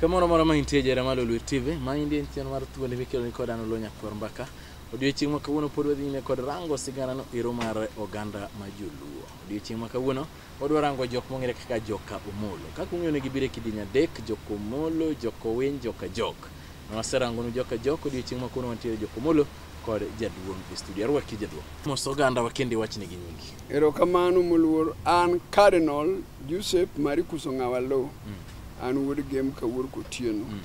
Kamoro moro ma intie jera malo Luo TV, ma indie en chenro mar thuondi mikelo ni kod an Oluo Nyakwar Mbaka. Odiochieng' ma kawuono pod wadhi nyime kod rango sigana no ero mar oganda ma joluo. Odiochieng' ma kawuono wadwa rango jok mong'ere kaka joka Omolo. Kaka ung'eyo ne gibiro e kidieny adek, joka Omolo, joka Owiny, joka Jok. Waserangonu joka jok odiochieng' ma kono wantiere jokomolo kod jaduong' e studio. Arwaki jaduong'. Mos oganda wakendi wachni gi nyingi. Erokamano moluor an Cardinal Joseph Maricus Ong'awa Lo. Mm. An wuod Gem Kawuor Kotieno. Mm.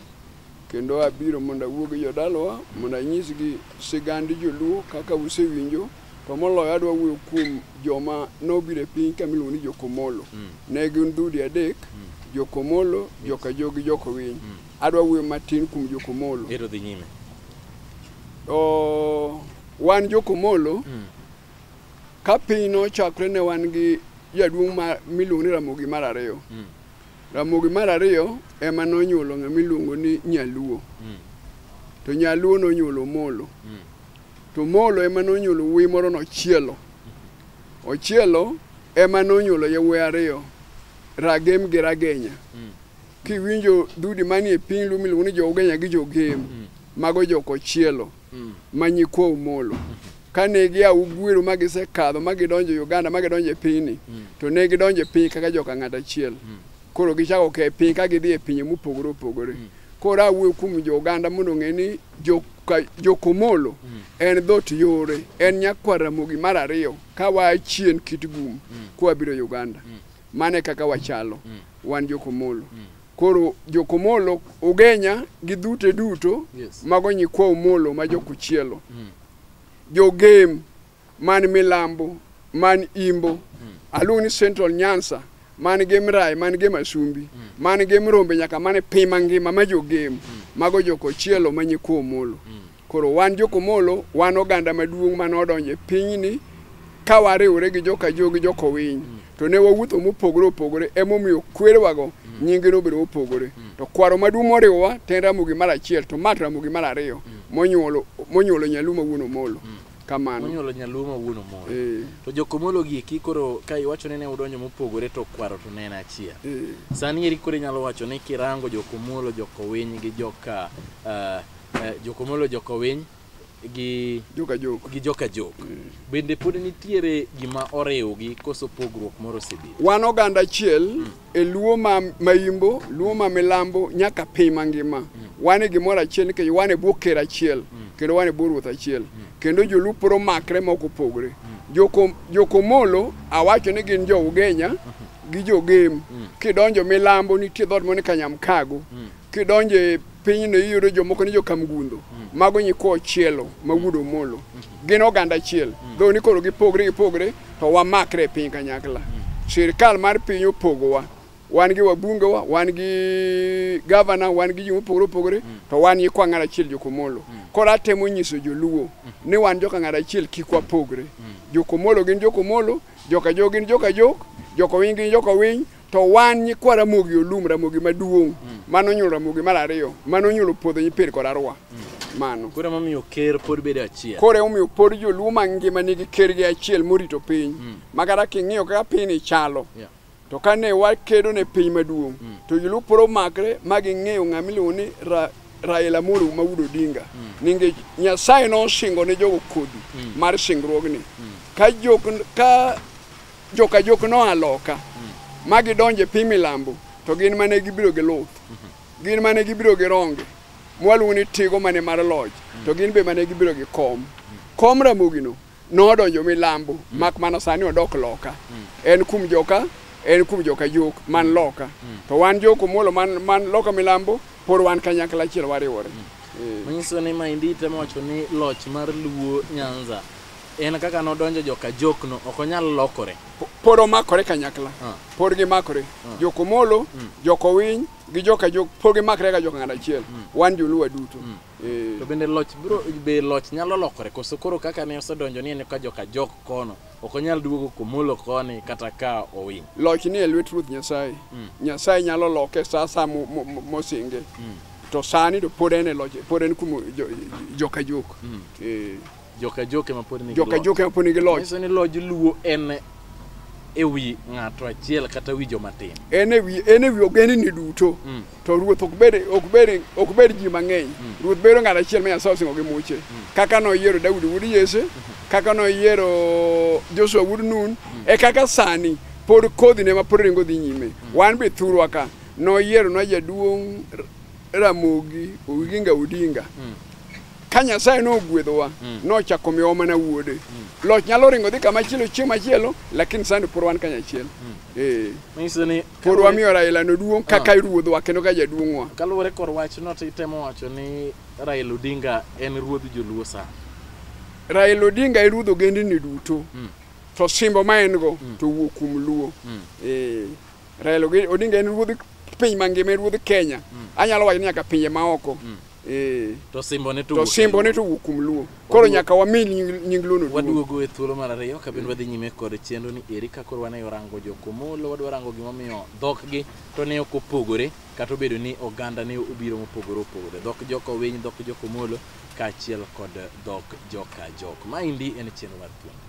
Kendo abiro mondo awuo gi jodalawa mondo anyisgi sigand joluo kaka usewinjo to moloyo adwa wuoyo kuom joma nobiro e piny ka miluongo ni Jokomolo. Mm. Ne gin dhudi adek, mm. Jokomolo, mm. Jokajogi, Jokowiny. Mm. Adwa wuoyo matin kuom Jokomolo. Ero dhi nyime. To wan Jokomolo mm. ka piny nochakre ne wan gi jaduong' ma miluongo ni Ramogi mar ariyo. Mm. Ramogi mar ariyo ema nonyuolo ng'ama iluongo ni Nyaluo. Mm. To Nyaluo nonyuolo Molo. Mm. To Molo ema nonyuolo wuoyi moro nochielo. Mm. Ochielo ema nonyuolo yawuoyi ariyo Ragem gi Ragenya. Mm. Kiwinjo dudi manie piny luo miluongo ni jo-Ugenya gi jo-Gem, mm. mago jokochielo mm. ma nyikwa Omolo. Kane gia Ugwiro ma gisekadho ma gidonjo Uganda ma gidonjo e pinyni, mm. to ne gidonjo e piny kaka joka ng'at achiel. Koro gichako ke piny ka gidhi e pinye mopogore opogore. Koro awuoyo kuom jo-Uganda mondo ong'e ni jokomolo en dhot yore, en nyakwar Ramogi mar ariyo ka waa chien kit gum koa biro Uganda. mane kaka wachalo mm. wan jokomolo mm. koro jokomolo ugenya gi dhute duto yes. mago nyikwa omolo ma jokuchielo mm. jogem man milambo man imbo mm. aluongo ni central nyansa man gi mrae man gi masumbi mm. man gi mrombe nyaka mane pima ngima ma jogem mm. mago jokochielo ma nyikwa omolo mm. Koro wan jokomolo, wan oganda maduong' mane odonjo e pinyni ka wariwore gi joka jo gi joka owiny mm. to ne wawuotho mopogore opogore emomiyo kwerewago mm. nyinge nobedo mopogore mm. to kwaro maduong' moriwowa to en ramogi mar achiel to mat ramogi mar ariyo monyuolo monyuolo nyalumo wuon omolo kamano monyuolo nyaluo ma wuon omoro eh. to jokomolo giki koro ka iwacho ni ne udonjo mopogore to kwaro to ne en achiel eh. sani eri koro inyalo wacho ni kirango jokomolo jokowiny gi joka eh, eh, jokomolo jokowiny gi joka jok gi joka jok bende pod nitiere gima oriwgi koso pogruok moro osebedo wan oganda achiel e luo ma maimbo luo ma milambo nyaka piny mangima wan e gimoro achiel nikech wan e bwo ker achiel kendo wan e bwo ruoth achiel kendo jolup poro makre ma ok opogre Joko- jokomolo awacho ni gin jo ugenya gi jogem kidonjo milambo nitie dhoot moro ni kanyamkago kidonjo e pinyno iyudo jomoko ni jokamgundo mago nyikwa ochielo ma wuod omolo gin oganda achiel dho ni koro gipogre gipogre to wamakre e piny kanyakla sirikal mar piny opogowa wan gi wabungewa wan gi gavana wan gi ji mopogore opogore to wan nyikwa ng'at achiel jokomolo koro atemo nyiso joluo ni wan joka ng'at achiel kik wapogre jokomolo gin jokomolo joka jo gin joka jok joka winy gin joka winy To wan nyikwa Ramogi Olum, Ramogi maduong', mano onyuolo Ramogi mar ariyo, mano onyuolo Puodho Nyipir kod Arwa. Mano. Koro emomiyo ker pod bedo achiel. Koro emomiyo pod joluo mangima nigi kergi achiel morito piny. Ma kata king'iyo kaka pinyni chalo, Yeah. to kane wakedo ne piny maduong', to joluo pod omakre ma ging'eyo ng'ama iluongo ni Ra- Raila Amolo Maudo Odinga. Nikech Nyasaye nosingo ne jogo kodhi mar singruogni. Ka jok ka Joka jok noa loka ma gidonjo e piny milambo to gin mane gibiro gi luth gin mane gibiro gi ronge mwaluongo ni tigo mane mar loch to gin be mane gibiro gi kom kom ramogino nodonjo milambo mak mana sani odok loka en kum joka en kum joka jok man loka to wan joko muolo man, man loka milambo pod wan kanyakla achiel wariwore Eh. manyiso ni maendi temo wacho ni loch mar luo nyanza En kaka nodonjo joka jokno ok onyal lokore. Po- Pod omakore kanyakla. Ah. Pod gimakore. Jokomolo, jokowiny gi joka jok pod gimakre ka joka ng'ato achiel. Wan joluo duto. Eh, To bende loch bro be loch nyalo lokore koso koro kaka ne osedonjo ni en ka joka jok kono ok onyal duogo komolo koni kata ka owiny. Loch ni e lwet Ruoth Nyasaye. Nyasaye nyalo loke sa sa mo- mo- mo- mosinge. To sani to pod en e loch, pod en kuom jo- joka jok. Eh, joka joke ma pod nigi joka loch. joke ma pod nigi loch Nyiso ni loj luo en e wi ng'ato achiel kata wi joma tin. en e wi en e wi ogendni duto Mm. to ruoth ok bed ok bed ok bed ji mang'eny ruoth bedo ng'at achiel ma Nyasaye osingo gi muche kaka noyiero Daudi wuod Yese kaka noyiero Joshua wuod Nun e kaka sani pod kodhi ne ma pod ringo dhi nyime wan be thurwa ka noyiero na jaduong' Ramogi Oginga Odinga Ka Nyasaye nogwedhowa, mm. nochako miyowa mana wuode. Mm. Loch nyalo ringo dhi kama chielo chieng' machielo, lakini sani pod wan kanyachiel. Mm. Eh. Manyiso ni pod wamiyo Raila no duong' ah. kaka ruodhwa kendo ka jaduong'wa. Kaluwore kor wachno to itemo wacho ni Raila Odinga en ruodh Joluo sa. Raila Odinga e ruodh ogendni duto. Mm. To simbo ma en go mm. to wuok kuom Luo. Mm. Eh. Raila Odinga en ruodh piny mangima, en ruodh Kenya. Mm. Anyalo wacho ni nyaka pinje maoko. Mm. Eh. To simbone to To simbone to wuok kuom Luo. Koro nyaka wami nying nying Luo no duong'. Waduogo e thuolo mar ariyo ka bin wadhi nyime kod chenro ni eri ka koro wane orango jokomolo wadwa rango gimomiyo dhokgi to ne ok opogore kata obedo ni oganda ne obiro mopogore opogore dhok jokowiny dhok jokomolo kaachiel kod dhok joka jok. Maendi en chenro mar thuolo.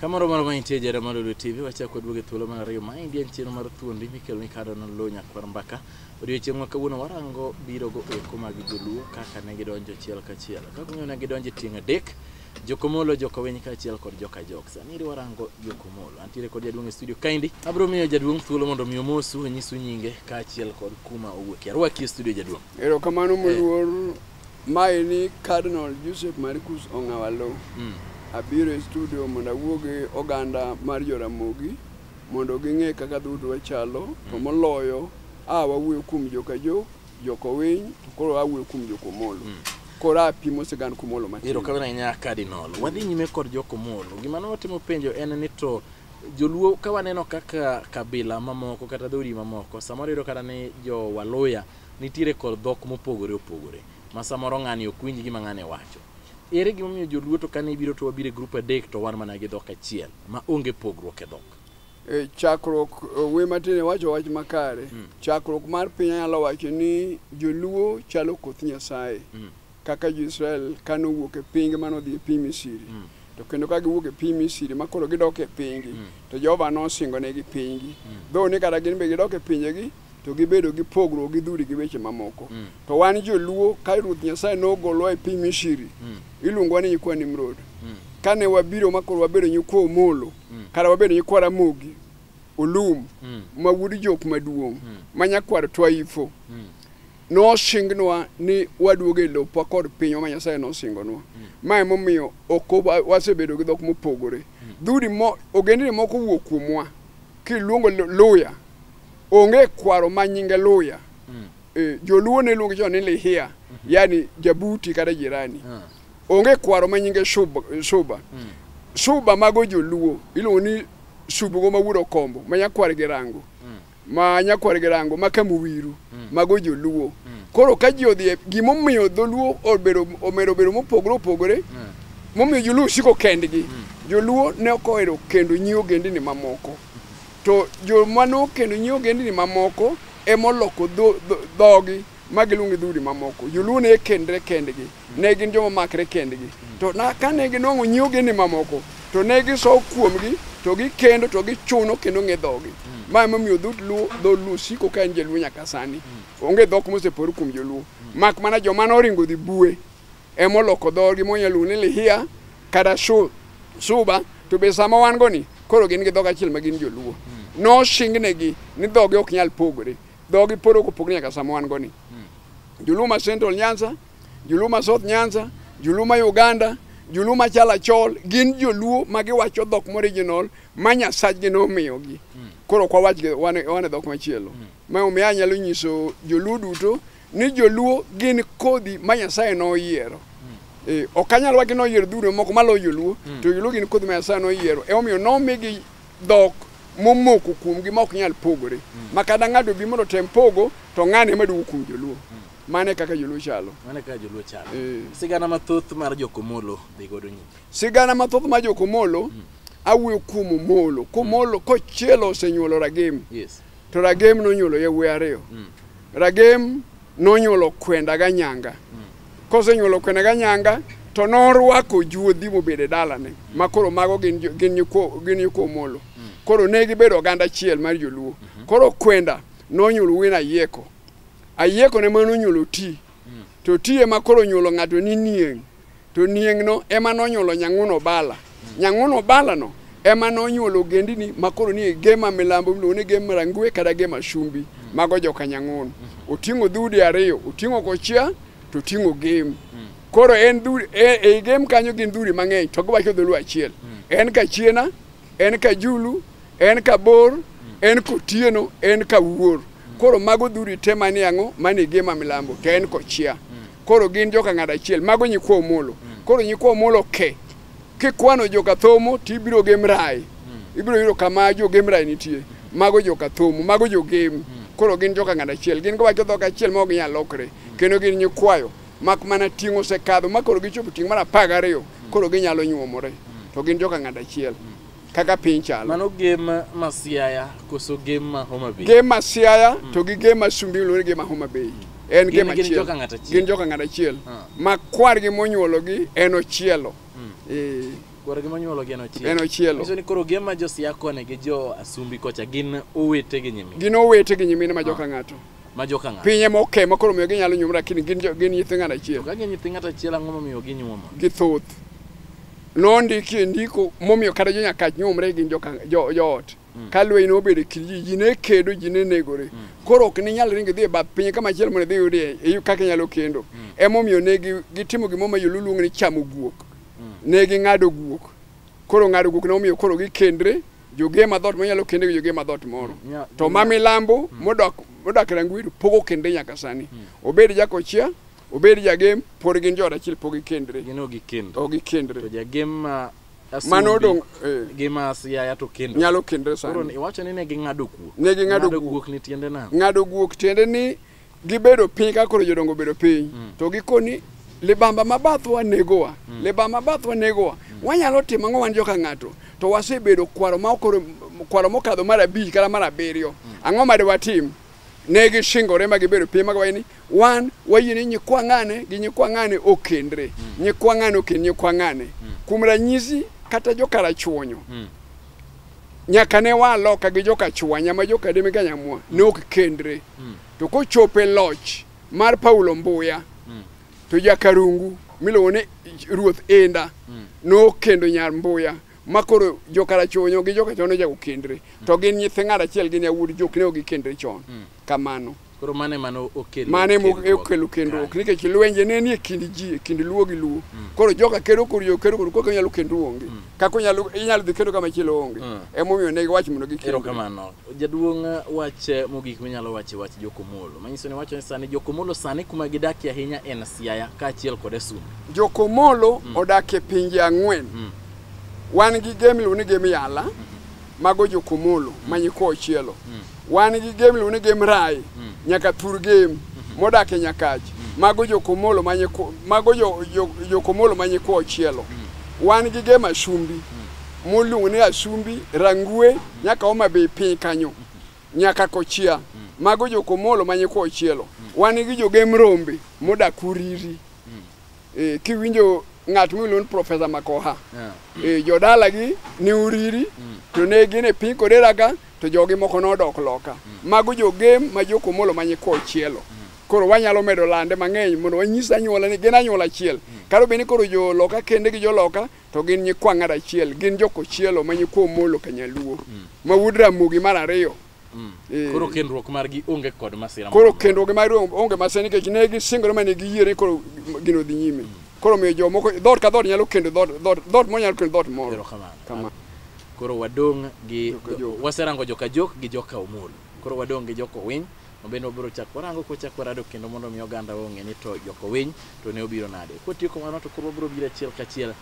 Kamoro mar mantie jara mar Lulu TV wachako kod wuoge thuolo mar ariyo maendi en chenro mar thuondi mikelo ni kado na lo nyakwar mbaka odiochieng' ma kawuono warango biro go eko mag joluo kaka ne gidonjo achiel kachiel kaka ung'eyo ne gidonjo e tieng' adek jokomolo jokowiny kaachiel kod joka jok sani warango jokomolo antiere kod jaduong' e studio kaendi abiro miyo jaduong' thuolo mondo mi omosu onyisu nyinge kaachiel kod kuma owuokie arwaki e studio jaduong' Erokamano moluor Maeni Cardinal Joseph Marcus Ong'awalo. Mm. Abiro e studio mondo awuo gi oganda mar Joramogi mondo ging'e kaka dhout wachalo to mm. moloyo a wawuoyo kuom Jokajo, Jokowiny to koro awuoyo kuom Jokomolo. Mm. Koro apimo sigand Komolo matin. Iro kabina nya Cardinal. Wadhi nyime kod Jokomolo. Gima ne watimo penjo en ni to joluo ka waneno kaka kabila mamoko kata dhoudi mamoko samoro yudo kata ni jo waluya Nitiere kor dhok mopogore opogore ma samoro ng'ani ok winj gima ng'ane wacho. Ere gima omiyo joluo to kane ibiro to wabiro e grup adek to wan mana gi dhok achiel ma onge pogruok e dhok? E, chakruok e, we matin wacho wach makare mm. chakruok mar piny anyalo wacho ni joluo chalo koth nyasaye mm. kaka jo-Israel ka nowuok e pingi ma nodhi e piny Misiri to kendo ka giwuok e piny Misiri ma koro gidok e pinygi to Jehova nosingonegi pinygi dho ni kata gin be gidok e pinjegi to gibedo gi pogruok gi dhudi gi weche mamoko to wan joluo ka Ruoth Nyasaye nogolowa e piny Misiri iluongowa ni nyikwa Nimrod kane wabiro ma koro wabedo nyikwa Omolo kata wabedo nyikwa Ramogi Olum ma wuod jok maduong' ma nyakwar Twaifo nosingnwa ni waduogo e lopwa kod pinywa ma nyasaye nosingonwa ma emomiyo ok wa- wasebedo gi dhok mopogore dhudi mo ogendni moko wuok kuomwa kiluongo lu- luya onge kwaro ma nyinge luya Eh, joluo ne luongo chon ni lihia yani jabuti kata jirani onge kwaro ma nyinge shuba, shuba. shuba mago joluo iluongo ni subugo ma wuod okombo ma nyakwar gi rango ma nyakwar girango ma kamuwiru mm. mago joluo mm. koro ka ji odhi e, gimomiyo dholuo obedo omero bedo mopogore opogore mm. momiyo joluo siko kendgi mm. joluo ne ok ohero kendo nyi ogendini mamoko to joma nokendo nyi ogendini mamoko emoloko dhogi ma giluongo dhoudi mamoko joluo ne kendre kendgi Ne gin joma makre kendgi. To na, kane ginwang'o nyi ogendni mamoko, to ne gisow kuomgi, to gikendo, to gichuno, kendo ng'e dhogi. Ma emomiyo dhout Luo, dho Luo siko ka en jaluo nyaka sani. Onge dhok mosepor kuom joluo. Mak mana joma noringo dhi bue, emoloko dhogi monyalo luongo ni Lihia kata Shu- Suba, to be sama wan go ni, koro gin gi dhok achiel ma gin joluo. Noshingnegi ni dhogi ok nyal pogore. Dhogi pod ok opogore nyaka sama wan go ni. Joluo ma Central Nyanza Juluma South Nyanza, Juluma Uganda, Juluma Chalachol gin joluo ma giwacho dhok morijinol ma nyasachgi nomiyogi. Koro ok wawach gi- wan wan e dhok machielo. Ma omiyo anyalo nyiso joluo duto ni joluo gin kodhi ma Nyasaye noyiero. Eh, ok anyal wacho ni oyiero dhuro moko maloyo joluo to joluo gin kodhi ma Nyasaye noyiero. Emomiyo nomigi dhok momoko kuomgi ma ok nyal pogore. Ma kata ng'ato bi mondo otem pogo to ng'ane ma duogo kuom joluo. Mane kaka joluo chalo. Mane kaka joluo chalo. Eh. Sigana mathoth mar jokomolo dhi godo nyime. Sigana mathoth mar jokomolo mm. awuoyo kuom omolo. Komolo mm. kochielo osenyuolo ragem. Yes. To ragem nonyuolo yawuoyi ariyo. Mm. Ragem nonyuolo kwenda ga nyanga. Mm. Kosenyuolo kwenda ga nyanga to norwako juodhi mobedo e dalane ma koro mago gin gin nyiko gin nyiko omolo. Mm. Koro ne gibedo oganda achiel mar joluo. Mm -hmm. Koro kwenda nonyuolo wina yeko. Ayiekone mano nyulo ti, to ti ema koro nyulo ng'ato ni nieng', to nieng'no ema nonyulo nyang'uno bala. Nyang'uno balano ema nonyulo ogendini ma koro ni e gema milambo miluongo ni gema rangwe kata gema shumbi, mago joka nyang'uno. Oting'o dhoudi ariyo, oting'o kochia to oting'o gem. Koro en dhoudi, e- ei gem kanyo gin dhoudi mang'eny to giwacho dholuo achiel. En kachiena en Kajulu, en Kabor, en Kotieno, en Kawuor. Koro mago dhuri te manie ang'o? Manie Gema Milambo, to en Kochia. Koro gin joka ng'ado achiel, mago nyikwa Omolo. Koro nyikwa Omolo ke, kikwano joka Thomo to ibiro gi Mrai. Ibiro yudo kama jo gi Mrai nitie. Mago joka Thomo, mago jo Gem. Koro gin joka ng'ado achiel. Gin giwacho dhok achiel ma ok ginyal lokre. Kendo gin nyikwayo. mak mana ting' osekadho ma koro gichopo ting' mar apar gariyo koro ginyalo nyuomore to gin joka ng'ad achiel kaka piny chalo mano gem ma siaya koso gem ma homa bay gem ma siaya to gi gem ma sumbi luore gem ma homa bay en gem achiel gin joka ng'ad achiel gin joka ng'ad achiel ah. ma kwar gi monyuolo gi en ochielo hmm. eh. kwar gi monyuolo gi en ochielo en ochielo nyiso ni koro gem ma jo siaya kone gi jo asumbi kocha gin owete gi nyimine gin owete gi nyimine ma joka ah. ng'ato ma joka ng'ato piny ema oke ma koro miyo ginyalo nyuomore lakini gin jo- gin nyithi ng'at achiel ka gin nyithi ng'ato achiel ang'o momiyo ginyuomo githoth nondiki e ndiko momiyo kata jo nyakach nyuomre gin joka- jo- joot ka lweny nobedo e kind ji ji ne kedo ji ne negore koro ok ninyal ringo idhi e bath piny kama chielo mondo idhi yudie e- kaka inyalo kendo emomiyo ne gi- gitimo gimoro ma joluo luongo ni chamo guok ne ging'ado guok Koro ng'ado guok nomiyo koro gikendre joge madhot monyalo kende gi joge madhot moro Nya- to ma milambo modok modak rangweru pogo kende nyaka sani obed jakochia obed jagem pod gin jood achiel pog gikendre gino gi kendo to to gikendre jagem ma mano odong' eh, gi ma siaya to kendo nyalo kendre koro sani iwacho ni ne ging'ado kuok Ne ging'ado Ng'ado kuok. kuok ni tiende nang'o ng'ado guok tiende ni Gibedo piny ka koro jodongo obedo piny mm. to gikoni libamba ma bathwa negowa mm. libamba ma bathwa negowa mm. wanyalo timo ang'o wan joka ng'ato to wasebedo kwaro ma okoro kwaro mokadho mar abich kata mar abiriyo mm. ang'o ma dewatim ne gishingore ma gibedo piny ma giwacho ni wan wayie ni nyikwa ng'ane gi nyikwa ng'ane okendre mm. nyikwa ng'ane okend nyikwa ng'ane mm. kuom ranyisi kata jokarachuonyo mm. nyaka ne waa loka gi joka chwanya ma joka deme ka nyamwa ne ok kendre mm. to kochope loch mar paulo mbuya mm. to jakarungu miluongo ni ruoth enda mm. nokendo nyar mbuya ma koro jokarachonyo gi jokachono jago kendre mm. to gin nyithe ng'at achiel gin yawuod jok ne ok gikendre chon mm. kamano mm. Koro mano ema ne okelo mano ema kendruok. okelo kendruok Kare. nikech lwenje ne nie kind ji e kind luo gi luo koro joka kedo koro jo kedo koro kaka inyalo kendu onge kaka inyalo inyalo dhi kendo kama chielo onge Mm. emomiyo ne giwacho mondo gikend Erokamano. Jaduong' eh, wach eh, mogik minyalo wacho e wach Jokomolo. Manyiso ni wacho ni sani Jokomolo sani kuma gidakie ahinya en Siaya kaachiel kod Asum. jokomolo odak e pinje ang'wen Mm. wan gi gem iluongo ni gem yala mago jokomolo mm. ma nyikwa ochielo mm. wan gi gem iluongo ni gem rai mm. nyaka thur gem mm-hmm. modak e nyakach mm. mago jokomolo ma nyikwa mago jokomolo ma nyikwa ochielo mm. wan gi gem ashumbi mm. moluongo ni ashumbi rangue mm. nyaka oma be piny kanyo mm-hmm. nyaka kochia mm. mago jokomolo ma nyikwa ochielo mm. wan gi jogem rombe modak uriri mm. eh, kiwinjo ng'at miluongo ni Profesa Makoha Yeah. eh, jodalagi ne oriri to ne gin e piny Kodera ka to jogi moko nodok loka mago jogem ma jokomolo ma nyikwa ochielo koro wanyalo medo lande mang'eny mondo wanyis anyuola ni gin anyuola achiel kata obedo ni koro joloka kende gi joloka to gin nyikwa ng'at achiel gin jokochielo ma nyikwa omolo kanyaluo ma wuod ramogi mar ariyo Mm. Eh. Koro kendruok margi onge kod masira. Koro kendruok margi onge masira nikech ne gisingore ma ne giyie ni koro gino dhi nyime. Mm. Koro miyo jomoko dhoot ka dhoot nyalo kendo dhoot dhoot dhoot moro nyalo kendo dhoot moro. Erokamano. Kamano. Koro wadong' gi waserango joka jok gi joka omolo. Koro wadong' gi joka owiny mabende wabiro chako warango kochako warado kendo mondo mi oganda ong'e ni to joka owiny to ne obiro nade. Kotieko mano to koro wabiro biro achiel kachiel